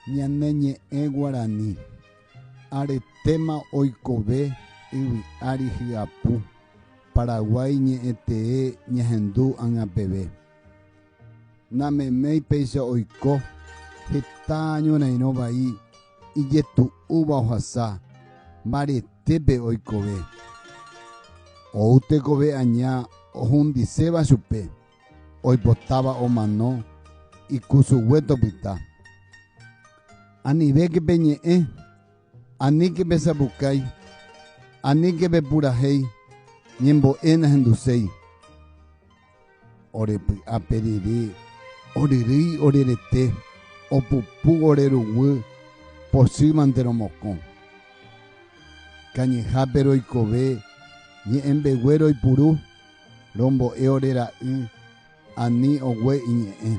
Ñane ñe'ẽ guarani, aretéma oikove yvy ári hyapu, Paraguái ñe'ẽtee ñahendu ág̃a peve. Nameméi péicha oiko heta ñorairõ vai ijetu'úva ohasa mbaretépe oikove. Ou tekove aña ohundiséva chupe. oipotáva omano ikusugue topyta. Anivéke peñe'ẽ, aníke pesapukái, aníke pepurahéi, ñembo'e nahenduséi. Ore py'a pe ryry, oryrýi ore rete, opupu ore ruguy, pochýmante romokõ. Kañyhápe roikove, ñe'ẽmbegue roipuru. rombo'e ore ra'y ani ogue iñe'ẽ.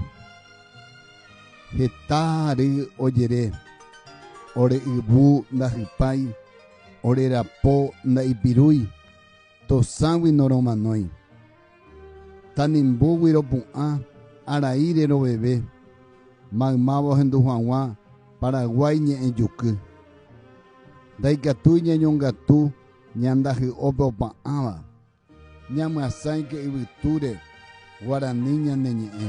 Heta ary ojere, Ore yvu ndahypái, ore rapo ndaipirúi, tosãgui noromanói. Tanimbúgui ropu'ã, arai reroveve, maymáva ohendu haguã Paraguái ñe'ẽjuky. Ndaikatúi ñañongatu ñandahy'ópe opa'ãva. Ñamyasãike yvytúre guarani ñane ñe'ẽ.